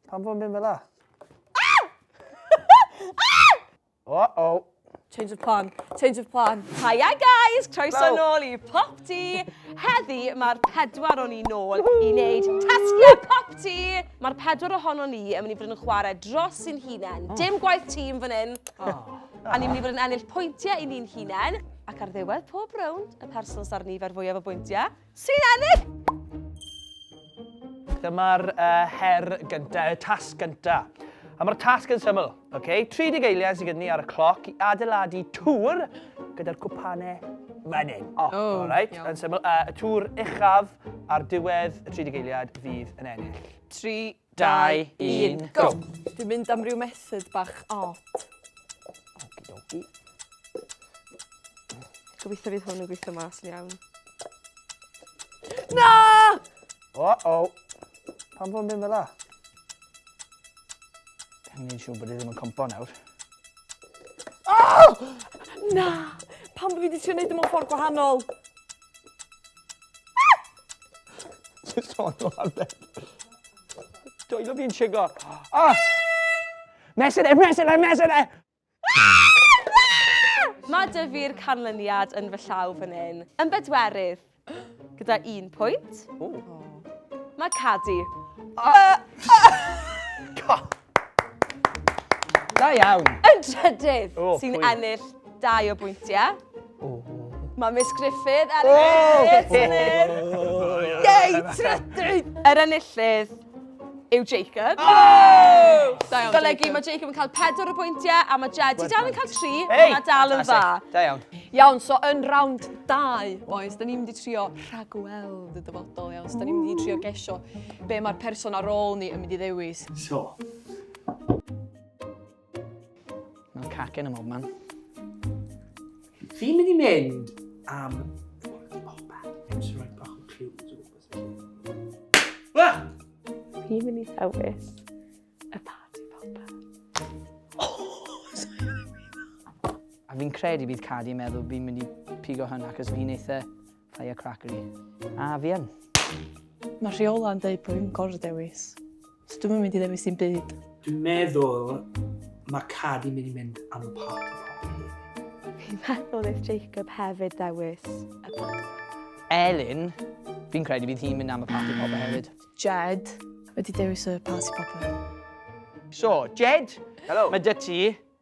Pam fod yn mynd fel la? O, o. Change of plan, change of plan. Hiya guys, croeso nôl i Pop Tea. Heddi mae'r pedwar o'n i nôl i wneud tasgiau Pop Tea. Mae'r pedwar ohono ni yn mynd i fod yn chwarae dros sy'n hunain. Oh. Dim gwaith tîm fan hyn. Oh. A ni'n mynd i fod yn ennill pwyntiau i ni'n hunain. Ac ar ddiwedd pob rownd, y person sy'r nifer fwyaf o bwyntiau, Sy'n ennill? Dyma'r uh, her gyntaf, y tasg gyntaf. A mae'r tasg yn syml. Okay? 30 eiliad sydd gyda ni ar y cloc i adeiladu tŵr gyda'r cwpanau fan hyn. Oh, oh right. Iawn. Yn syml. Uh, y tŵr uchaf ar diwedd y 30 eiliad fydd yn ennill. 3, dau, un, go! Dwi'n mynd am ryw method bach od. Okidoki. Gobeithio fydd hwn yn gweithio mas yn iawn. Na! O-o! Pan fo'n mynd fel la? Dwi'n mynd siŵr bod i e ddim yn compo nawr. Oh! Na! Pan bod fi wedi trio gwneud ymwneud mewn ffordd gwahanol. Just on the one bed. Do you love being chigo? Oh! Mesyn e, mesyn e, mesyn e! Mae dyfu'r canlyniad yn fy llaw fan hyn. Yn bedwerydd, gyda un pwynt. Mae Cadi. Uh, uh, Da iawn. Y drydydd oh, sy'n ennill dau o bwyntiau. Oh. Mae Miss Griffith ar y oh. Yei, trydydd! Yr enillydd yw Jacob. Oh! Da iawn, Golygu, mae Jacob yn cael pedwar o bwyntiau a mae Jed i dal yn cael tri, hey! mae dal yn dda. Da iawn. Iawn, so yn rawnd dau, boys, da ni'n mynd i trio rhagweld y dyfodol, iawn. So, da ni'n mynd i trio gesio be mae'r person ar ôl ni yn mynd i ddewis. So. Mae'n cacen am man. Fi'n mynd i mynd am... Fi'n mynd i ddewis y party popper. A fi'n credu bydd Cadi yn meddwl fi'n mynd i pigo hynna, cos fi'n eitha Fire crackery. A, fi yn. Mae rheola yn dweud bod fi'n gorfod dewis. So dwi'n mynd i ddewis i'n byd. Dwi'n meddwl mae Cadi mynd i mynd am y party popeth. Fi'n meddwl if Jacob hefyd dewis y party. Elin, fi'n credu bydd hi'n mynd am y party popeth hefyd. Jed, wedi dewis y party popeth. So, Jed, Hello. mae dy ti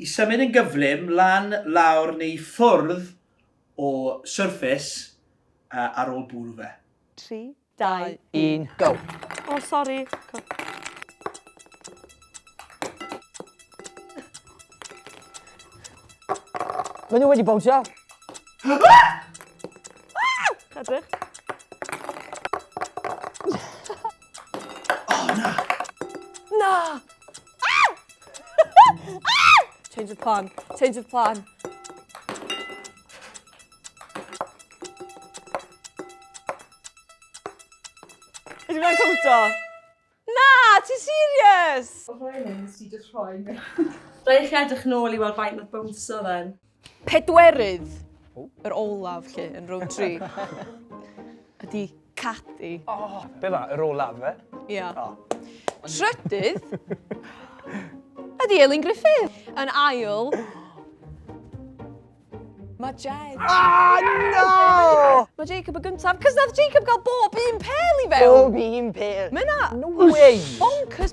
i symud yn gyflym lan, lawr neu i ffwrdd o surface ar ôl bwrw fe. Tri, dau, un, go! O sori! Mae nhw wedi bownsio! Edrych. O na! Na! Change of plan. Change of plan. Ydw i'n cwmto? Na, ti serious? O rhaid yn sy'n just rhoi mi. Rhaid chi edrych nôl i weld faint oedd bwnsio then. Pedwerydd, yr olaf lle, yn row 3, ydy Cadi. O, oh, be ma, yr olaf fe? Ia. Oh. Trydydd, ydy Elin Griffith. Yn ail, Mae Jed. Ah, no! Mae Jacob y gyntaf, cys nath Jacob gael bob un pel i fewn. Bob un pel. Mae na... No way! Bonkers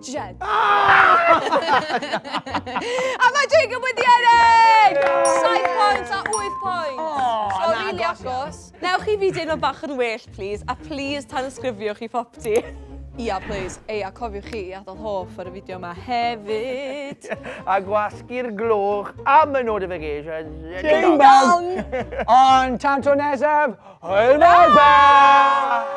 Jed. Ah! a mae Jacob wedi ennill! 7 pwynt a 8 pwynt. Oh, so, rili agos. Newch chi fi deimlo bach yn well, please, a please tan ysgrifio chi popti. Ia, please. Ei, a cofiwch chi i adael hoff ar y fideo yma hefyd. a gwasgu'r glwch am y notifications. Ding dong! Ond tan to nesaf, hwyl fawr!